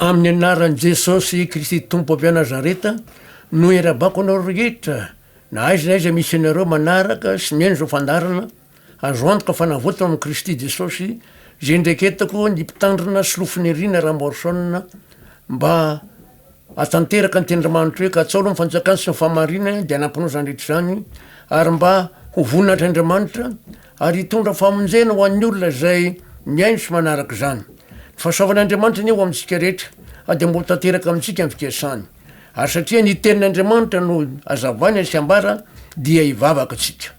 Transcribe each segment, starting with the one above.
Amin'ny anaran'i Jesosy Kristy Tompo avy Nazareta no irabako anareo rehetra na aiza na aiza misy anareo manaraka sy mihaino izao fandaharana azo antoka fa navotana amin'i Kristy Jesosy izay niraiketako ny mpitandrina sy lofoniriana Ramorson mba hatanteraka ny tenin'Andriamanitra hoe katsao aloha ny fanjakany sy ny fahamarinany dia hanamponao izany rehetra izany ary mba ho voninahitran'Andriamanitra ary hitondra famonjena ho an'ny olona izay mihaino sy manaraka izany. Ny fahasoavan'Andriamanitra anie ho amintsika rehetra, ary dia mba ho tanteraka amintsika ny fikasany. Ary satria ny Tenin'Andriamanitra no azavaina sy ambara, dia hivavaka isika.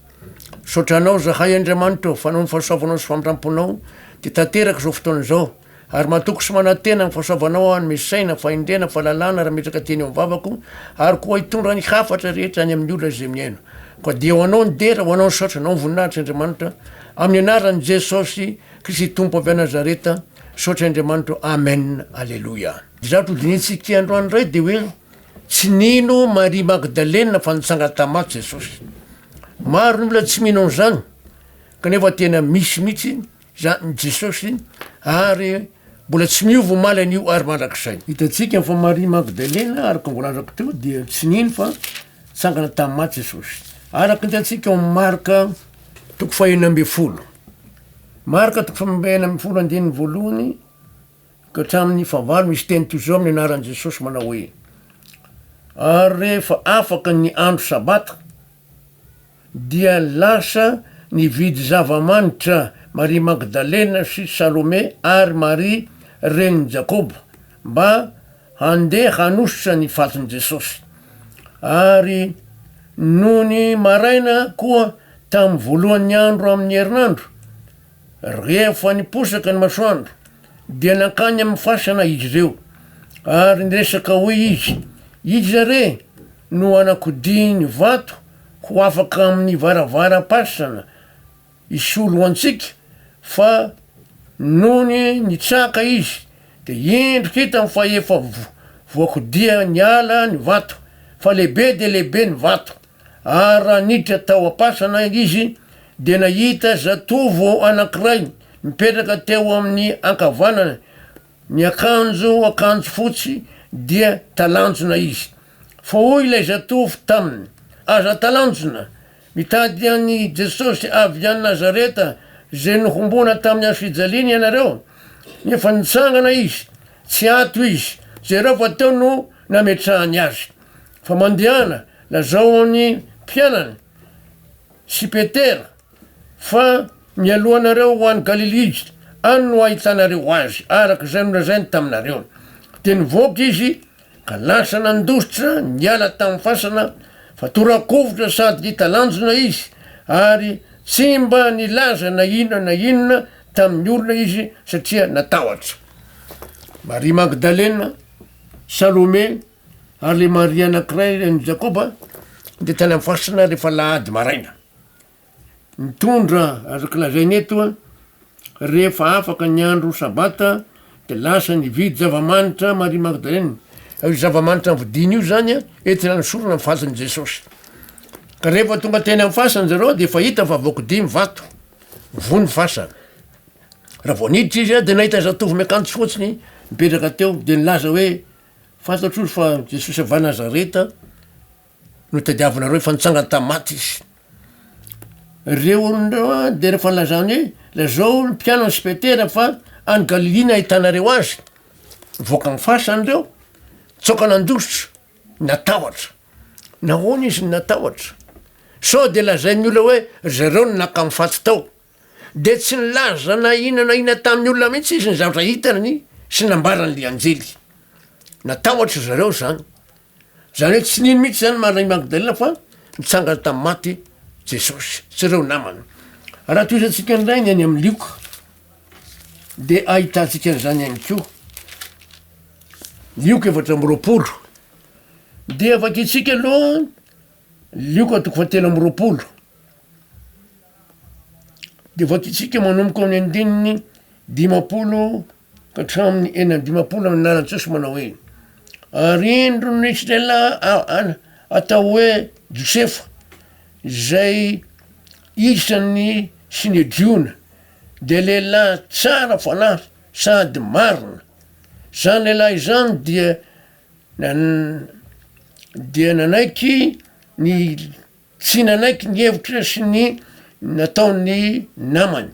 Misaotra Anao izahay, Andriamanitra ô, fa noho ny fahasoavanao sy famindramponao, dia tanteraka izao fotoana izao. Ary matoky sy manantena ny fahasoavanao aho ny misaina, fahendrena, fahalalana rametraka teny eo amin'ny vavako, ary koa hitondra ny hafatra rehetra any amin'ny olona izay mihaino. Koa dia ho anao ny dera, ho anao ny saotra, anao ny voninahitra Andriamanitra, amin'ny anaran'i Jesosy Kristy Tompo avy any Nazareta, saotra Andriamanitro, Amen, Aleloia. Ny zavatra hodinihintsika androany indray dia hoe tsy nino Maria Magdalena fa nitsangana tamin'ny maty Jesosy. Maro ny olona tsy mino an'izany, kanefa tena misy mihitsy Izany Jesosy ary mbola tsy miova omaly anio ary mandrakizay. Hitantsika fa Maria Magdalena, araka ny voalazako teo, dia tsy nino fa nitsangana tamin'ny maty Jesosy. Araka ny hitantsika ao amin'ny Marka toko fahenina ambin'ny folo. Marka toko fahenina ambin'ny folo andininy voalohany ka hatramin'ny fahavalo misy teny toy izao amin'ny anaran'i Jesosy manao hoe ary rehefa afaka ny andro sabata dia lasa nividy zava-manitra Maria Magdalena sy Salome ary Maria renin'i Jakoba mba handeha hanosotra ny fatin'i Jesosy. Ary nony maraina koa tamin'ny voalohan'ny andro amin'ny herinandro, rehefa niposaka ny masoandro, dia nankany amin'ny fasana izy ireo ary niresaka hoy izy, Iza re? no hanakodihiny vato ho afaka amin'ny varavaram-pasana hisolo antsika fa nony nitsaka izy dia indro hitany fa efa voakodiha niala ny vato fa lehibe dia lehibe ny vato ary raha niditra tao am-pasana izy dia nahita zatovo anankiray mipetraka teo amin'ny ankavanany Ny akanjo akanjo fotsy dia talanjona izy. Fa hoy ilay zatovo taminy, Aza talanjona! Mitady an'i Jesosy avy any Nazareta izay nohomboana tamin'ny hazofijaliana ianareo? Nefa nitsangana izy, tsy ato izy, jereo fa teo no nametrahany azy. Fa mandehana, lazao amin'ny mpianany sy Petera Fa mialoha anareo ho any Galilia, any no hahitanareo Azy, araka izay nolazainy taminareo. Dia nivoaka izy, ka lasa nandositra niala tamin'ny fasana, fa toa rakovitra sady ngita lanjona izy, ary tsy mba nilaza na inona na inona tamin'ny olona izy, satria natahotra. Maria Magdalena, Salome, ary ilay Maria anankiray, an'i Jakoba, dia tany amin'ny fasana rehefa alahady maraina. Mitondra, azoko lazaina eto, rehefa afaka ny andro sabata de lasa ny hividy zava-manitra Maria Magdalena, io zava-manitra novidiany io zany a entina hanosorana ny fatin'i Jesosy, ka rehefa tonga teny amin'ny fasana zareo de efa hita fa voakidia ny vato, voa ny fasana, raha vao niditra izy a de nahita zatovo miakanjo fotsy ny mipetraka teo de nilaza hoe, fantatro ozy fa Jesosy avy any Nazareta Notadiavinareo efa nitsangana tamin'ny maty izy. Ireo olona ireo an, dia rehefa nilazany hoe lazao ny mpianany sy Petera fa any Galilia no ahitanareo azy. Nivoaka ny fasany ireo, nitsoaka nandositra, natahotra. Nahoana izy no natahotra? Sao dia lazain'ny olona hoe ry zareo no naka ny faty tao. dia tsy nilaza na inona na inona tamin'ny olona mihitsy izy ny zavatra hitany sy nambarany ilay anjely. Natahotra ry zareo izany. Izany hoe tsy nino mihitsy izany Maria Magdalena fa nitsangana tamin'ny maty Jesosy sy ireo namany. Raha tohizantsika indray ny any amin'ny Lioka dia ahitantsika an'izany ihany koa. Lioka efatra amby roapolo. Dia vakintsika aloha Lioka toko fahatelo amby roapolo. Dia vakitsika manomboka ao amin'ny andininy dimampolo ka hatramin'ny enina amby dimampolo amin'ny anaran'i Jesosy manao hoe, Ary indro nisy lehilahy a- a- atao hoe Josefa, izay isan'ny Synedriona, dia lehilahy tsara fanahy sady marina. Izany lehilahy izany dia nan- dia nanaiky ny. Tsy nanaiky ny hevitra sy ny nataon'ny namany.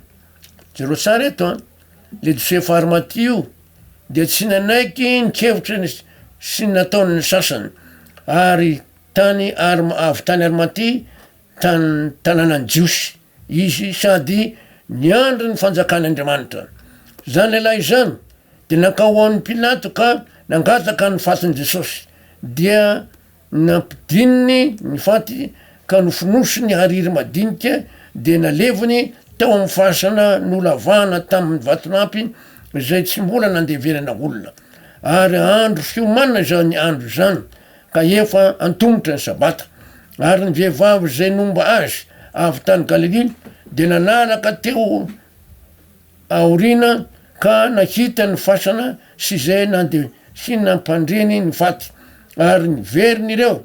Jereo tsara eto an, le Josefa Arimatia io dia tsy nanaiky ny kevitra ny sy ny nataon'ny sasany ary tany Arm- avy tany Arimatia tany tanànan'ny Jiosy izy sady niandry ny fanjakan'Andriamanitra. Zany lehilahy izany de nankao amin'ny Pilato ka nangataka ny fatin'i Jesosy dia Nampidininy ny faty ka nofonosiny hariry madinika dia naleviny tao amin'ny fasana nolavahana tamin'ny vatolampy izay tsy mbola nandeverana olona. Ary andro fiomanana izany andro izany ka efa antomotra ny sabata. Ary ny vehivavy izay nomba azy avy tany Galilia dia nanaraka teo aoriana ka nakita ny fasana sy izay nandeha sy nampandreny ny faty, ary niverina ireo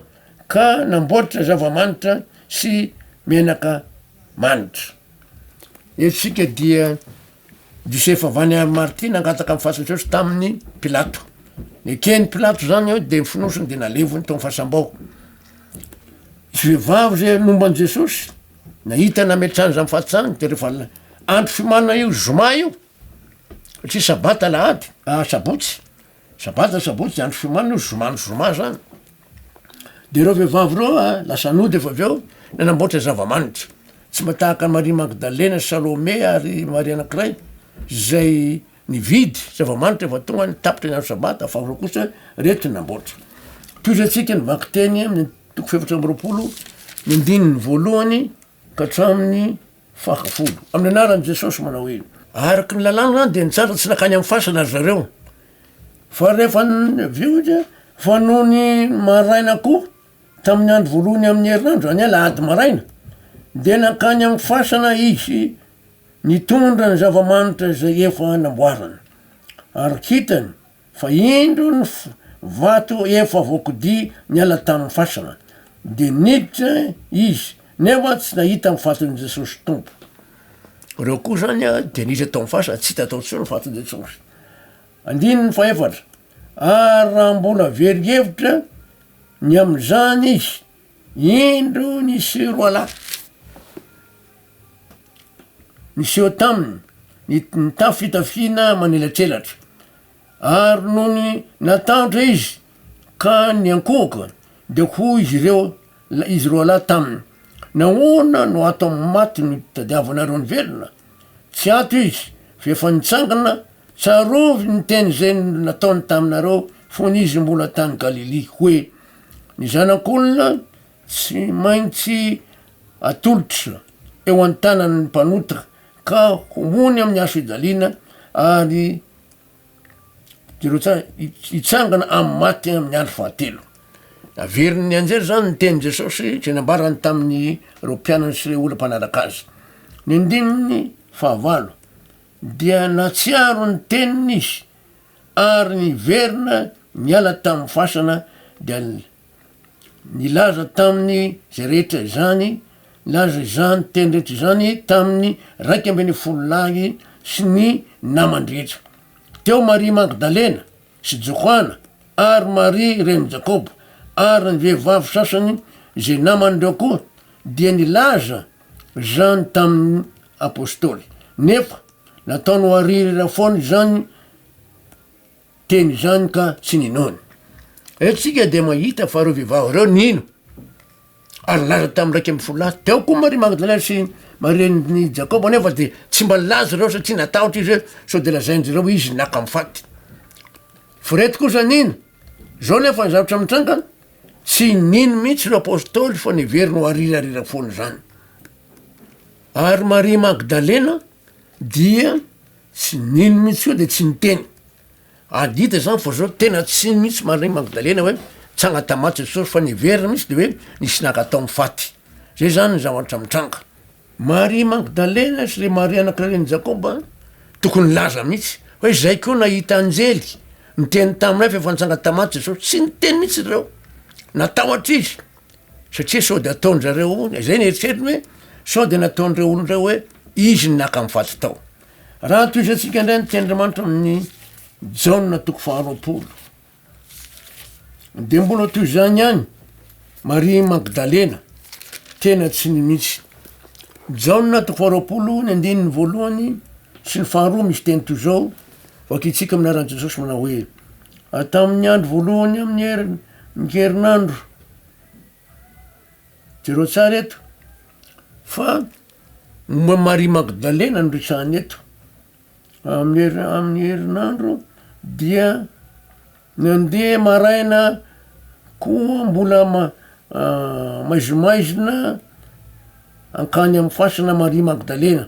ka namboatra zava-manitra sy menaka manitra. Eto isika dia Josefa Vany ary Marty nangataka ny fasan'i Jesosy tamin'i Pilato. Neken'i Pilato izany dia nofonosiny dia nalevony tao amin'ny fasam-bao. Vehivavy izay nomba an'i Jesosy Nahita nametrahany izany fahatsahany dia rehefa andro fiomanana io zoma io, satria sabata alahady, ah sabotsy, sabata sabotsy andro fiomanana io zoma ny zoma zany. Dia ireo vehivavy ireo ah, lasa nody efa avy eo, nanamboatra zava-manitra. Tsy mba tahaka an'i Maria Magdalena, Salome ary Maria anankiray izay Nividy zava-manitra efa tonga ny tapitra ny andro sabata fa ireo kosa reto ny namboatra. Tohizantsika ny vakiteny amin'ny toko fahefatra amby roapolo ny andininy voalohany ka hatramin'ny fahafolo. Amin'ny anaran'i Jesosy manao hoe. Araka ny lalàna dia nitsara tsy nankany amin'ny fasana ry zareo. Fa rehefa avy eo dia fa nony maraina koa tamin'ny andro voalohany amin'ny herinandro, izany hoe alahady maraina, dia nankany amin'ny fasana izy. Nitondra ny zava-manitra izay efa namboarany, ary hitany fa indro ny vato efa voakodia niala tamin'ny fasana, dia niditra izy nefa tsy nahita ny faton'i Jesosy Tompo. Ireo koa izany dia niditra tao amin'ny fasana, tsy hita tao intsony ny faton'i Jesosy. Andininy fahefatra, ary raha mbola very hevitra ny amin'izany izy, Indro niseho roalahy niseho taminy, nitafy fitafiana manelatrelatra. Ary nony natahotra izy ka niankohoka, dia hoy izy ireo, izy roalahy taminy, Nahoana no ato amin'ny maty no tadiavanareo ny velona? Tsy ato izy, fa efa nitsangana, tsarovy ny teny izay nataony taminareo fony izy mbola tany Galilia, hoe, Ny zanak'olona tsy maintsy atolotra eo an-tanan'ny mpanota ka homoany amin'ny hazo fijaliana ary hitsangana amin'ny maty amin'ny andro fahatelo. Averiny nianjera izany ny tenin'i Jesosy izay nambarany tamin'ireo mpianany sy ireo olona mpanaraka azy. Ny andininy fahavalo dia nahatsiaro ny teniny izy. Ary niverina niala tamin'ny fasana dia nilaza taminy izay rehetra izany, nilaza izany teny rehetra izany taminy raika ambin'ny folo lahy sy ny namany rehetra. Teo Maria Magdalena sy Johana ary Maria renin'i Jakoba ary ny vehivavy sasany izay naman'ireo koa dia nilaza izany tamin'ny Apostoly. Nefa nataony ho aririra foana izany teny izany ka tsy ninoany. Eto isika dia mahita fa ireo vehivavy ireo nino ary nilaza tamin'ny iraika ambin'ny folo lahy. Teo koa Maria Magdalena sy Maria renin'i Jakoba nefa dia tsy mba nilaza ireo satria natahotra izy hoe sao dia lazain-dry ireo hoe izy naka amin'ny faty. F'ireto kosa nino. Izao anefa ny zavatra mitranga. Tsy nino mihitsy ireo apostoly fa niverina ho arirarira foana izany. Ary Maria Magdalena dia tsy nino mihitsy koa dia tsy niteny. Ady hita izany fa zao tena tsy nino mihitsy Maria Magdalena hoe tsy agnatamaty Jesosy fa niverina mihitsy de hoe nisy nankatao amin'ny faty. Zay zany ny zavatra mitranga. Maria Magdalena sy le Maria anak'i ren'i Jakoba tokony hilaza mihitsy hoe zay koa nahita anjely niteny taminay fa efa nitsanga tamaty Jesosy, tsy niteny mihitsy reo natahotra izy satria sao de ataonjareo ho zay ny eritreritiny hoe sao de nataon'ireo olona reo hoe izy ny naka ny faty tao. Raha tohizatsika ndray ny tenin'Andriamanitra amin'ny Jaona toko faharoapolo. Dia mbola toy izany ihany Maria Magdalena, tena tsy nimitsy. Jaona toko faharoapolo ny andininy voalohany sy ny faharoa misy teny toy izao, vakintsika amin'ny anaran'i Jesosy manao hoe, tamin'ny andro voalohany amin'ny herin- ny herinandro, jereo tsara eto fa momba an'i Maria Magdalena no resahina eto, Amin'ny herinandro dia mandeha maraina koa mbola ma- maizimaizina hankany amin'ny fasana Maria Magdalena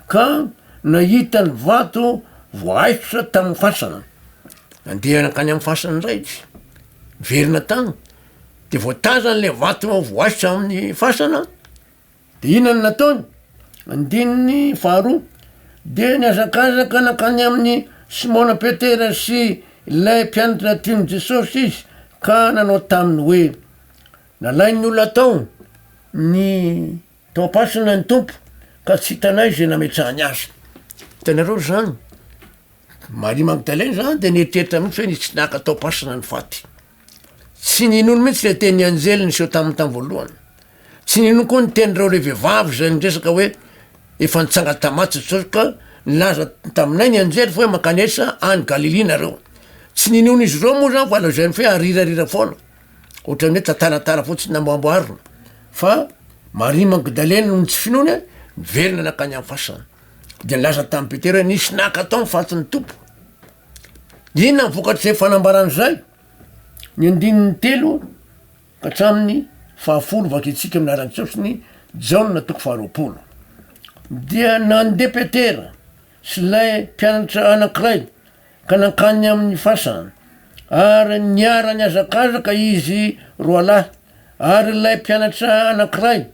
ka nahita ny vato voahaifitra tamin'ny fasana, nandeha nankany amin'ny fasana ndray izy, niverina tany de voatazany le vato voahaifitra amin'ny fasana. Dia inona no nataony? Andininy faharoa, Dia nihazakazaka nankany amin'i Simona Petera sy ilay mpianatra tian'i Jesosy izy, ka nanao taminy hoe, Nalain'ny olona tao ny tao am-pasana ny Tompo, ka tsy hitanay izay nametrahany Azy. Hitanareo izany? Maria Magdalena izany dia nieritreritra mihitsy hoe nisy naka tao am-pasana ny faty. Tsy ninony mihitsy ilay tenin'ny anjely niseho taminy tamin'ny voalohany. Tsy ninony koa ny tenin'ireo lehibe vavy izay niresaka hoe, Efa nitsanga tamatsy Jesosy, ka nilaza taminay ny anjely fa hoe, Mankanesa any Galilia nareo. Tsy ninoan'izy ireo moa izany fa lazainy fa hoe arirarira foana, ohatran'ny hoe tantaratara fotsiny namboamboarina. Fa Maria Magdalena, noho ny tsy finoany, niverina nankany amin'ny fasana. Dia nilaza tamin'i Petera hoe, Nisy naka tao ny fatin'ny Tompo. Inona ny vokatr'izay fanambarana izay? Ny andininy telo ka hatramin'ny fahafolo vakintsika amin'ny anaran'i Jesosy ny Jaona toko faharoapolo. Dia nandeha Petera sy ilay mpianatra anankiray ka nankany amin'ny fasana, ary niara-nihazakazaka izy roalahy. Ary ilay mpianatra anankiray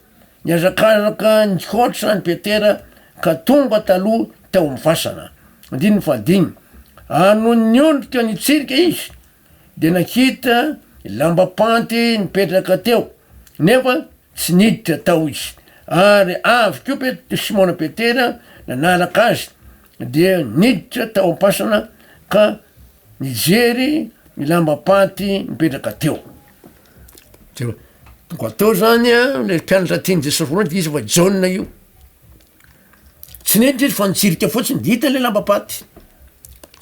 nihazakazaka nihoatra an'i Petera ka tonga taloha Tao amin'ny fasana. Andininy fahadimy. Ary nony niondrika nitsirika izy, dia nakita lambapanty nipetraka teo, nefa tsy niditra tao izy. Ary avy koa Pet- Simona Petera nanaraka azy, dia niditra tao am-pasana ka nijery ny lambapanty nipetraka teo. Jereo, tonga tao zany a, le mpianatra tian'i Jesosy voalohany, dia iza fa Jaona io. Tsy niditra izy fa nitsirika fotsiny de hita le lambam-paty,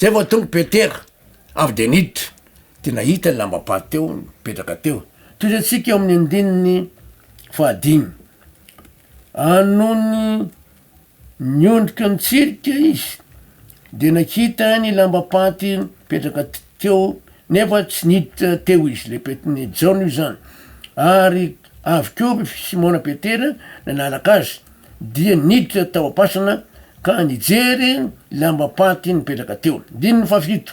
zay vao tonga Petera avy de niditra de nahita ny lambam-paty teo mipetraka teo, toy zay antsika eo amin'ny andininy fahadimy, anony niondrika nitsirika izy de nakita ny lambam-paty mipetraka teo nefa tsy niditra teo izy, le Pet- Jaona io zany ary Avy koa i Simona Petera nanaraka azy, dia niditra tao am-pasana ka nijery ny lambam-paty nipetraka teo. Andininy fahafito,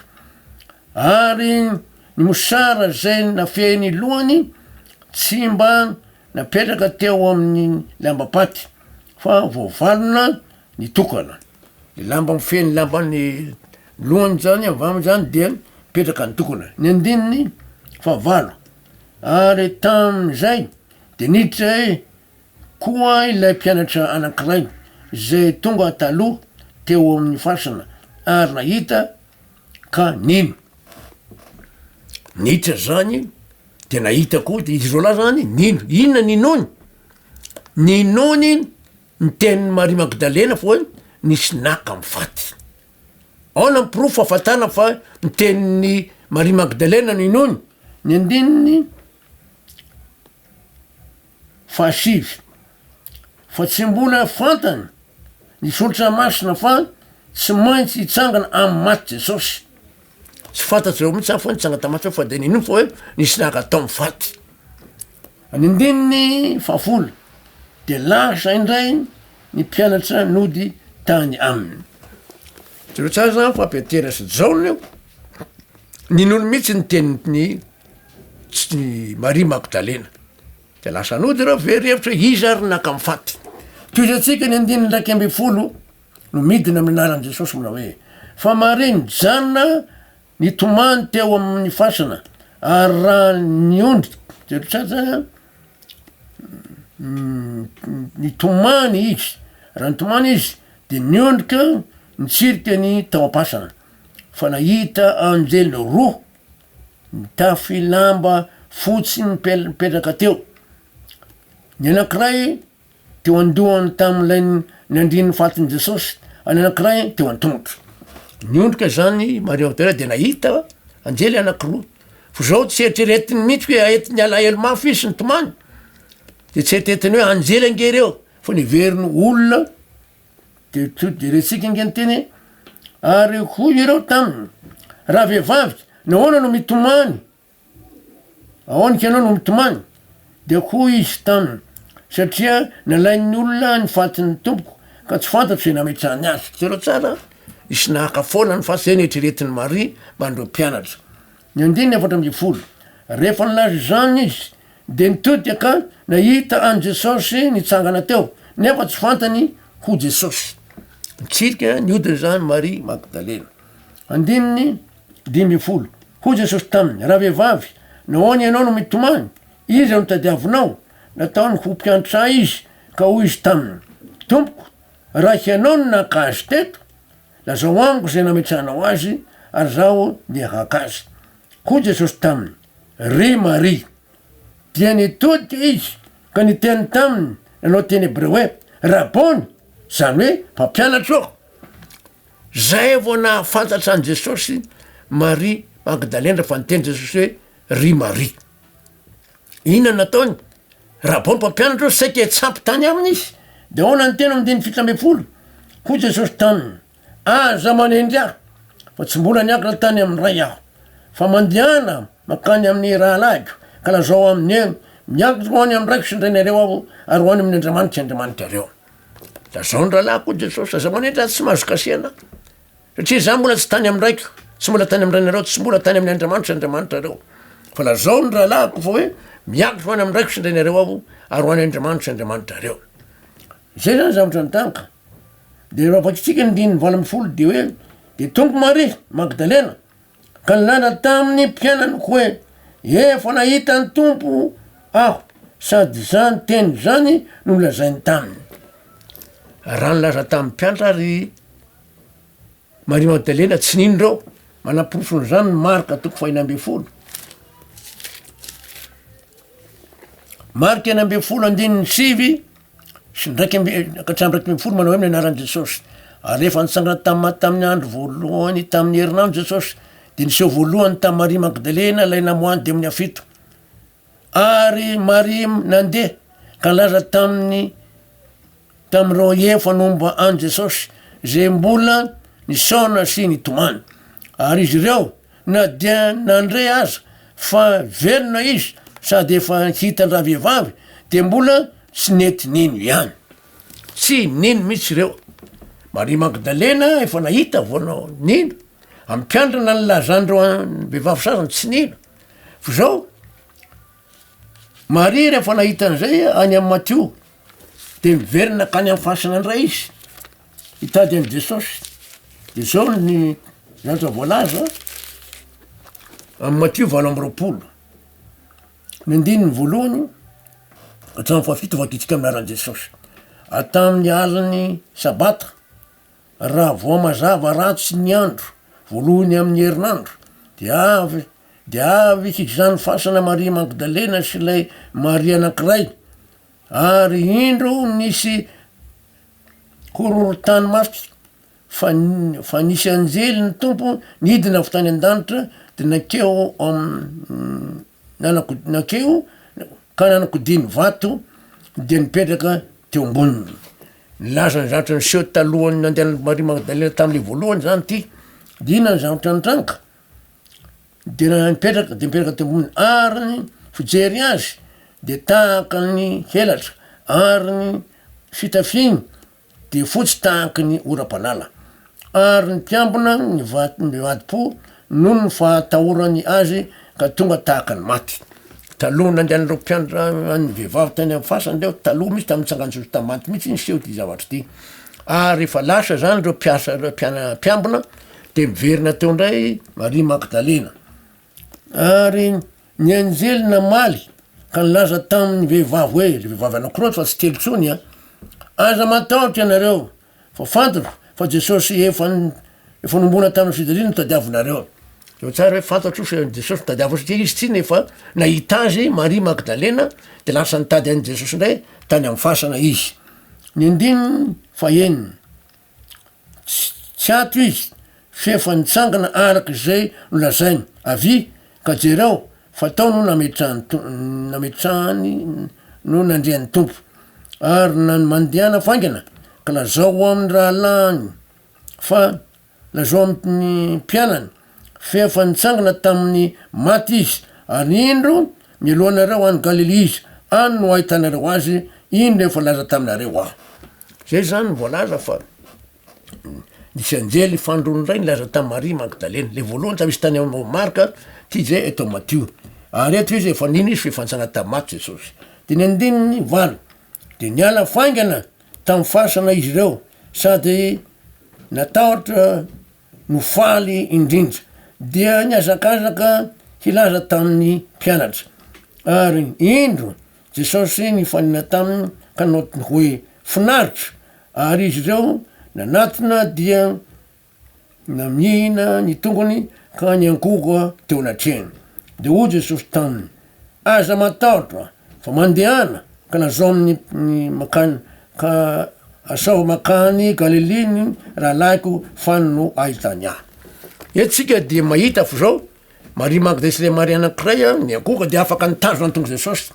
Ary ny mosara izay nafehy ny lohany tsy mba napetraka teo amin'ny lambam-paty, fa voavalona nitokana. Ny lamba mifehy ny lamban'ny lohany izany avy aminy izany dia mipetraka nitokana. Ny andininy fahavalo. Ary tamin'izay dia niditra eo koa ilay mpianatra anankiray, izay tonga taloha teo amin'ny fasana, ary nahita, ka nino. Niditra izany, dia nahita koa, dia izy roa lahy izany nino. Inona ninoany? Ninoany ny tenin'i Maria Magdalena foana, nisy naka amin'ny faty. Aona ny porofo hahafantana fa ny tenin'i Maria Magdalena no inoany? Ny andininy fahasivy, Fa tsy mbola fantany ny Soratra Masina fa tsy maintsy hitsangana amin'ny maty Jesosy. Tsy fantatr'ireo mihitsy aho fa nitsanga tamin'ny maty aho fa dia nino fa hoe nisy naka tao amin'ny faty. Ny andininy fahafolo, dia lasa indray ny mpianatra nody tany aminy. Jereo tsara izany fa Petera sy Jaona io, ninoany mihitsy ny tenin'ny Maria Magdalena. Dia lasa nody ireo, very hevitra hoe iza ary no naka amin'ny faty. Toy izay antsika ny andininy iraika ambin'ny folo. no midina amin'ny anaran'i Jesosy manao hoe, Fa Maria nijanona nitomany teo amin'ny fasana ary raha ny ondry Jerotsatsa nitomany izy, raha nitomany izy dia niondrika nitsirika ny tao am-pasana fa nahita anjely roa nitafy lamba fotsy mipetraka teo, ny anankiray Teo an-dohany tamin'ilay niandrian'ny fatin'i Jesosy, any anankiray teo an-tongotro. Niondrika izany i Maria Magdalena dia nahita anjely anankiroa. Fa izao tsy eritreretiny mihitsy hoe hahita ny alahelo mafy izy sy ny tomany. Dia tsy eritreretiny hoe anjely ange ireo fa niveriny ho olona. Dia to dia rentsika ange ny teny ary hoy ireo taminy, Rahavehivavy, nahoana no mitomany? Aoka ianao no mitomany. Dia hoy izy taminy, Satria nalain'ny olona ny fatin'ny Tompoko, ka tsy fantatro izay nametrahany azy. Jereo tsara, nisy nahaka foana ny faty izay neritreretin'i Maria mba an'ireo mpianatra. Ny andininy efatra ambin'ny folo, Rehefa nilaza izany izy, dia nitodika ka nahita an'i Jesosy nitsangana teo, nefa tsy fantany ho Jesosy. Nitsirika nihodina izany Maria Magdalena. Andininy Dimy ambin'ny folo. Hoy Jesosy taminy, Ravehivavy, nahoana ianao no mitomany? Iza no tadiavinao? Nataony ho mpiantra Ahy izy, ka hoy izy taminy, Tompoko, raha Hianao no naka azy teto, lazao amiko izay nametrahanao azy, ary izaho dia haka azy. Hoy Jesosy taminy, Ry Maria! Dia nitodika izy, ka niteny taminy nanao teny hebreo hoe, Rabôny! izany hoe, Mpampianatro! Zay vao nahafantatra an'i Jesosy Maria Magdalena fa niteny Jesosy hoe ry Maria. Inona nataony? Raha vao ny mpampianatra eo saika hitsampy tany aminy izy de ahoana ny teny amin'ny andininy fito ambin'ny folo? Hoy Jesosy taminy, aza manendry ahy fa tsy mbola niakatra tany amin'ny Ray aho, fa mandehana mankany amin'ny rahalahiko ka lazao aminy hoe miakatra ho any amin'ny Raiko sy ny Rainareo aho ary ho any amin'ny Andriamaniko sy Andriamanitrareo. Lazao ny rahalahy koa Jesosy, aza manenitra azy tsy mahazo kasihana aho, satria za mbola tsy tany amin'ny raiko, tsy mbola tany amin'ny rainareo, tsy mbola tany amin'ny Andriamanitro sy Andriamanitrareo. Fa lazao ny rahalahiko fa hoe miakatra ho any amin'ny raiko sy ny rainareo aho ary ho any Andriamanitro sy Andriamanitrareo. Zay zany zavatra nitanga. De raha vakitsika ny andininy valo ambin'ny folo de hoe de tonga Maria Magdalena Ka nilaza tamin'ny mpianany hoe, Efa nahita ny Tompo aho, sady izany teny izany no nolazainy taminy. Raha nilaza tamin'ny mpianatra ry Maria Magdalena tsy nino ireo, manaporofon'izany ny Marka toko fahina ambin'ny folo. Marka enina ambin'ny folo andininy sivy. sy ny raika amby, ka hatramin'ny raika ambin'ny folo manao hoe ny anaran'i Jesosy. Ary rehefa nitsangana tamin'ny maty tamin'ny andro voalohany tamin'ny herinandro Jesosy, dia niseho voalohany tamin'i Maria Magdalena ilay namoahan'ny demonia fito. Ary Maria nandeha ka nilaza tamin'ny tamin'ireo efa nomba an'i Jesosy izay mbola nisaona sy nitomany. Ary izy ireo Na dia nandre aza fa velona izy sady efa hitan-dravehivavy dia mbola tsy nety nino ihany. Tsy nino mihitsy ireo. Maria Magdalena efa nahita vao nino. Ampiandrana ny lazan'ireo vehivavy sasany tsy nino. Fa izao, Maria rehefa nahita an'izay any amin'i Matio dia niverina hankany amin'ny fasana indray izy. Hitady an'i Jesosy. Dia zao ny lanitra voalaza amin'ny Matio valo amby roapolo. Ny andininy voalohany hatramin'ny fahafito vakitsika amin'ny anaran'i Jesosy. Ary tamin'ny alin'ny sabata, raha vao mazava ratsy ny andro, voalohany amin'ny herinandro, dia avy dia avy hikisan'ny fasana Maria Magdalena sy ilay Maria anankiray, Ary indro nisy horohorontany mafy, fa fa nisy anjely ny Tompo nidina avy tany an-danitra de nankeo am- nanako- nankeo ka nanakodiny vato de nipetraka teo amboniny, nilaza ny zavatra niseho talohan'ny nandehanan'i Maria Magdalena tam'le voalohany zany ty, de inona ny zavatra nitranga? de raha mipetraka de mipetraka teo ambony ary ny fijery azy de tahaka ny helatra ary ny fitafiny de fotsy tahaky ny oram-panala ary ny mpiambina ny vato mivadi-po noho ny fahatahorany azy ka tonga tahaka ny maty taloha nandehan'ireo mpianatra an'ny vehivavy tany amin'ny fasana reo taloha mihitsy tamin'ny tsangan-tsoa sy tamin'ny maty mihitsy niseho ity zavatra ity ary efa lasa zany reo mpiasa reo mpiana- mpiambina Dia miverina teo indray Maria Magdalena. Ary ny anjely namaly ka nilaza tamin'ny vehivavy hoe, le vehivavy anankiroa fa tsy telo intsony a, aza matahotra ianareo fa fantatro fa Jesosy efa efa nombona tamin'ny fijaliana no tadiavinareo. Zao tsara hoe fantatro fa Jesosy no tadiaviny satria izy tsinona efa nahita azy Maria Magdalena de lasa nitady an'i Jesosy indray tany amin'ny fasana izy. Ny andininy fahenina. Tsy ato izy f'efa nitsangana araka izay nolazainy. Avia ka jereo fa tao no nametrahany no nandrian'ny Tompo. Ary nany mandehana faingana ka lazao amin'ny rahalahiny fa lazao amin'ny mpianany Feno fa nitsangana tamin'ny maty Izy, ary indro, mialoha anareo any Galilia Izy, any no ahitanareo Azy, iny no efa laza taminareo Aho. Zay zany no voalaza fa nisy anjely fandroany indray nilaza tamin'i Maria Magdalena, le voalohany, tsa misy tany amin'i Marka, ty zay eto amin'i Matio, ary eto izy efa nino Izy fa efa nitsangana tamin'ny maty Jesosy. Dimy andininy valo, de niala faingana tamin'ny fasana izy ireo, sady natahotra, no faly indrindra, dia nihazakazaka hilaza tamin'ny mpianatra. Ary indro, Jesosy nifanena taminy ka nanao hoe, Finaritra! Ary izy ireo nanatona dia namihina ny tongony ka niankohoka teo anatrehany. Dia hoy Jesosy taminy, Aza matahotra fa mandehana ka lazao amin'ny makany ka asao makany Galilia ny rahalahiko fa no ahitany ahy. Eto tsika dia mahita fa zao Maria Magda sy le Maria anankiray niankohoka dia afaka nitazona ny tongotr'i Jesosy.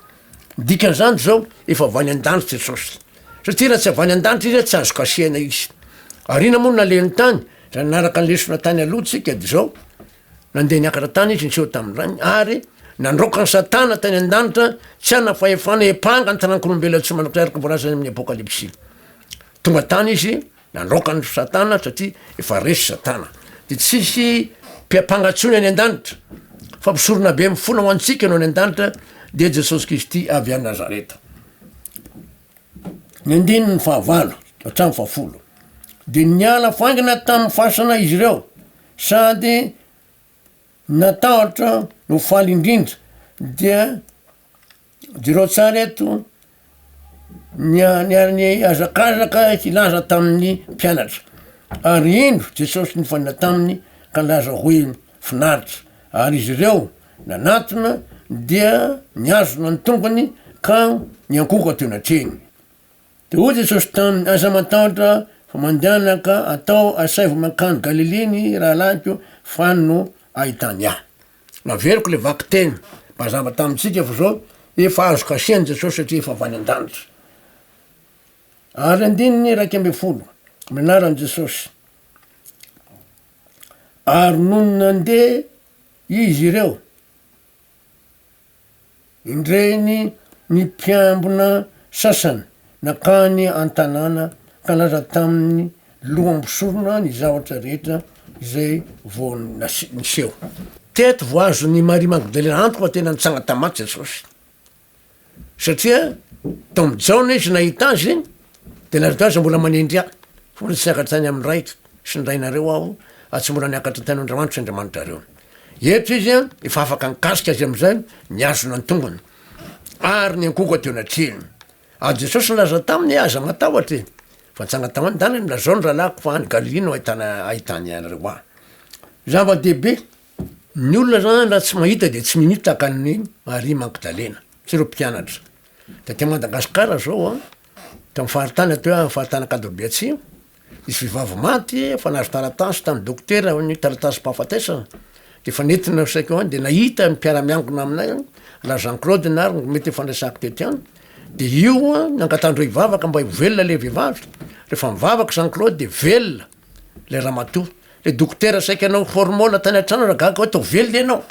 Ny dikan'izany zao efa avy any an-danitra Jesosy. Satria raha tsy avy any an-danitra izy tsy azo kasihina izy. Ary ina moa no nalehiny tany? Raha nanaraka ny lesona tany aloha tsika dia zao, Nandeha niakatra tany izy niseho tamin'ny Rainy, ary nandroaka an'i Satana tany an-danitra tsy hanana fahefana hiampanga ny taranak'olombelona tsy manankiray araka ny voalazany amin'ny Apokalypsy. Tonga tany izy nandroaka an'i Satana satria efa resy Satana. Dia tsy hisy mpiampanga intsony any an-danitra, fa mpisorona be mifona ho antsika no any an-danitra, dia Jesosy Kristy avy any Nazareta. Ny andininy fahavalo hatramin'ny fahafolo. Dia niala faingana tamin'ny fasana izy ireo, Sady natahotra no faly indrindra dia jereo tsara eto ny niaran'ny hazakazaka hilaza tamin'ny mpianatra, ary indro Jesosy nifanena taminy ka nilaza hoe finaritra, ary izy ireo nanatona dia nihazona ny tongony ka niankohoka teo anatrehiny. Dia hoy Jesosy taminy, Aza matahotra, fa mandehana ka atao asaivo mankany Galilia ny rahalahiko, fa any no ahitany ahy. Naveriko ilay vakiteny mba hazava tamintsika fa izao efa azo kasen'i Jesosy satria efa avy any an-danitra. Ary andininy iraika ambin'ny folo, amin'ny anaran'i Jesosy. Ary nony nandeha izy ireo, Indreny ny mpiambina sasany nankany an-tanàna ka nilaza tamin'ny loham-bosorona ny zavatra rehetra izay vao niseho. Teto vao azon'i Maria Magdalena antoka fa tena nitsanga tamin'ny maty Jesosy, satria tao amin'i Jaona izy nahita Azy, dia nilaza tamin'Azy, Mbola manendry ahy, fa mbola tsy niakatra tany amin'ny Ray sy ny Rainareo aho, ary tsy mbola niakatra tany an-dRamanitro sy Andriamanitrareo. Eto izy an, efa afaka nikasika azy amin'izay, nihazona ny tongony. Ary niankohoka teo anatrehany. Ary Jesosy nilaza taminy, Aza matahotra e! Fa nitsanga tao an-daniny, nilazao ny rahalahiko fa any Galilia no ahitana ahitany anareo ahy. Zava-dehibe! Ny olona izany raha tsy mahita dia tsy mimita tahaka an'i Maria Magdalena sy ireo mpianatra. Taty Madagasikara izao an, tao amin'ny faritany, atoy amin'ny faritany Ankadobia Atsimo, Nisy vehivavy maty efa nahazo taratasy tamin'ny dokotera hoe ny taratasim-pahafatesana dia efa nentina ho saika ho any dia nahita ny mpiara-miangona aminay any raha Jean Claude na ary mety efa niresahako tety any dia io no angatahan'ireo hivavaka mba ho velona ilay vehivavy rehefa mivavaka Jean Claude dia velona ilay ramatoa ilay dokotera saika anao formol tany an-trano raha gaga hoe atao velona ianao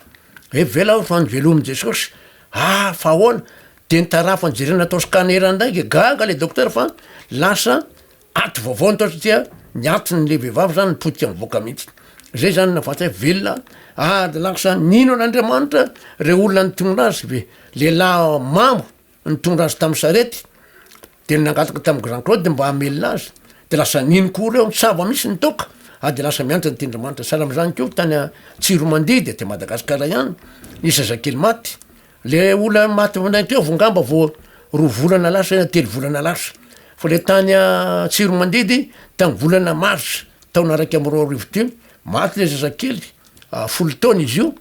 hoe velona aho fa novelomin'i Jesosy ah fa ahoana dia ny tarafiny jerena atao scanner indray dia gaga ilay dokotera fa lasa Aty vaovao ny taotry tia ny atiny le vehivavy zany ny potika mivoaka mihitsy zay zany na vatay velona ady laksa nino an'andriamanitra re olona nitondra azy ve lehilahy mamo nitondra azy tamin'ny sarety de nangataka tamin'ny grand claude mba hamelona azy de lasa nino koa reo nitsaba misy ny toaka a de lasa miantra ny tindramanitra sahala am'izany koa tany a tsiromandidy aty madagasikara ihany nisy zazakely maty Le olona maty vinaintevo angamba vao roa volana lasa na telo volana lasa, fa le tany Antsiromandidy tamin'ny volana mars taona raika amby roa arivo teo, maty le zazakely folo taona izy io,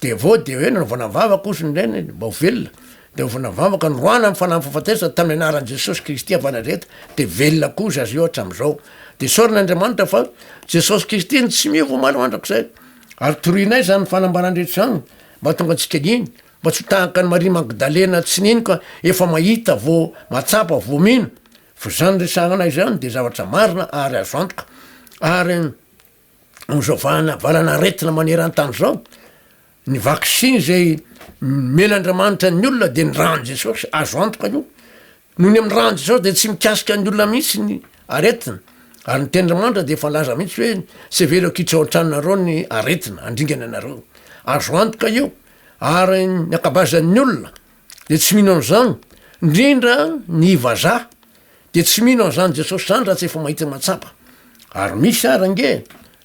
de avy eo de hoe nanaovana vavaka ozy ny rainy mba ho velona, de nanaovana vavaka noroahana amin'ny fanahy fahafatesana tamin'ny anaran'i Jesosy Kristy avy Nazareta de velona koa zaza io hatramin'izao, de isaorana Andriamanitra fa Jesosy Kristy no tsy miova omaly mandrakizay, ary torianay zany fanambarandrehetra zany. Mahatonga antsika hino, mba tsy ho tahaka an'i Maria Magdalena tsy nino ka efa mahita vao mahatsapa vao mino, fa izany resahana ahy izany dia zavatra marina ary azo antoka, ary amin'izao vahana valana aretina maneran-tany izao, ny vaksiny izay nomena Andriamanitra ny olona dia ny ran'i Jesosy, azo antoka io, Noho ny amin'izao andro izao dia tsy mikasika ny olona mihitsy ny aretina ary ny tendry mandra dia efa laza mihitsy hoe tsy hevero akitra ao an-tranonareo ny aretina handringana anareo. Azo antoka io ary ny ankabazan'ny olona dia tsy mino an'izany ndrindra ny vazaha dia tsy mino an'izany Jesosy izany raha tsy efa mahita matsapa. Ary misy ary ange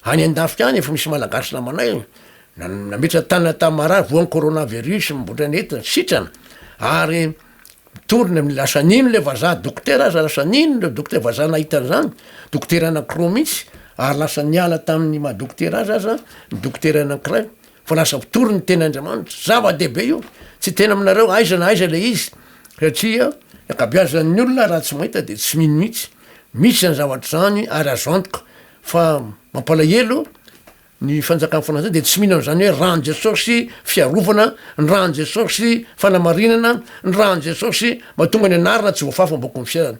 any an-dafika any efa misy malagasy namanay nametra-tanana tamin'ny marary voan'ny coronavirus mibotra ny aretina sitrana ary Mitory ny amin'ny lasa nino ilay vazaha dokotera aza lasa nino ireo dokotera vazaha nahita an'izany, dokotera anankiroa mihitsy ary lasa niala tamin'ny maha dokotera azy aza ny dokotera anankiray fa lasa mpitory ny tena Andriamanitra, zava-dehibe io, tsy hiteny aminareo aiza na aiza ilay izy satria ny ankabeazan'ny olona raha tsy mahita dia tsy mino mihitsy, misy izany zavatra izany ary azo antoka fa mampalahelo Ny fanjakan'ny fanajana dia tsy mino an'izany hoe ran'i Jesosy fiarovana, ny ran'i Jesosy fanamarinana, ny ran'i Jesosy mahatonga ny anarana tsy voafafy am-boaky ny fiainana.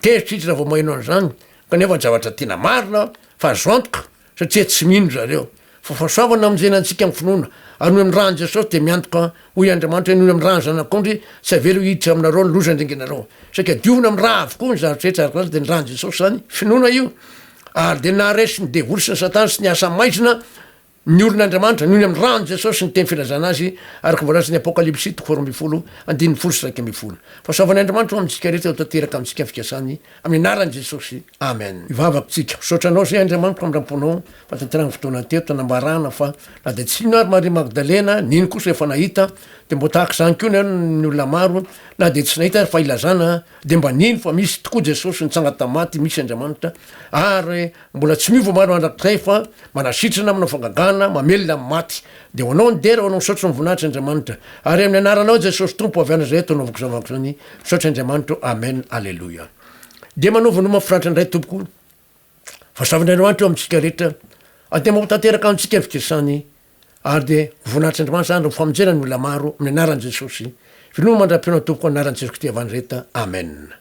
Tezitra izy raha vao maheno an'izany, kanefa ny zavatra tena marina fa azo antoka satria tsy mino zareo. Fa fahasoavana hamonjena antsika amin'ny finoana, anoy amin'ny ran'i Jesosy dia miantoka, hoy Andriamanitra, henoy amin'ny ran'ny Zanak'ondry, tsy havelo hiditra aminareo ny loza handringanareo. Saika diovina amin'ny ra avokoa ny zavatra rehetra ary koa aza dia ny ran'i Jesosy izany, finoana io. Ary dia naharesy ny devoly sy ny satana sy ny asa maizina ny olon' Andriamanitra noho ny amin'ny ran'i Jesosy sy ny teny filazana azy araka ny voalazan'ny Apokalypsy toko faharoa ambin'ny folo andininy folo sy iraika ambin'ny folo. Fahasoavan'i Andriamanitra ho amintsika rehetra ho tanteraka amintsika ny fikasany amin'ny anaran'i Jesosy. Amen. Mivavaka tsika. Misaotra Anao Zay Andriamanitro amindram-ponao fa tanterahany fotoana teto nanambarana fa na dia tsy nino ary Maria Magdalena nino kosa efa nahita dia mba ho tahaka izany koa ny olona maro na dia tsy nahita ary fa ilazana Dia mba nino fa misy tokoa Jesosy nitsanga tamin'ny maty, misy Andriamanitra, ary mbola tsy miova maro mandrakizay fa manasitrana, manao fangagana, mamelona amin'ny maty. Dia ho anao ny dera, ho anao misaotra ny voninahitry Andriamanitra. Ary amin'ny anaranao Jesosy Tompo avy any Nazareta no anaovako izany vavaka izany, misaotra Andriamanitra ô, amen, aleloia. Dia manaova noma mafinaritra indray Tompoko, fa soavin'Andriamanitra eo amintsika rehetra, ary dia mampatanteraka antsika ny fikasany. ary dia voninahitr'Andriamanitra izany raha ho famonjena ny olona maro amin'ny anaran'i Jesosy. Veloma mandram-peo na tompoko anaran'i Jesoa Kristy Evangeleta. Amena.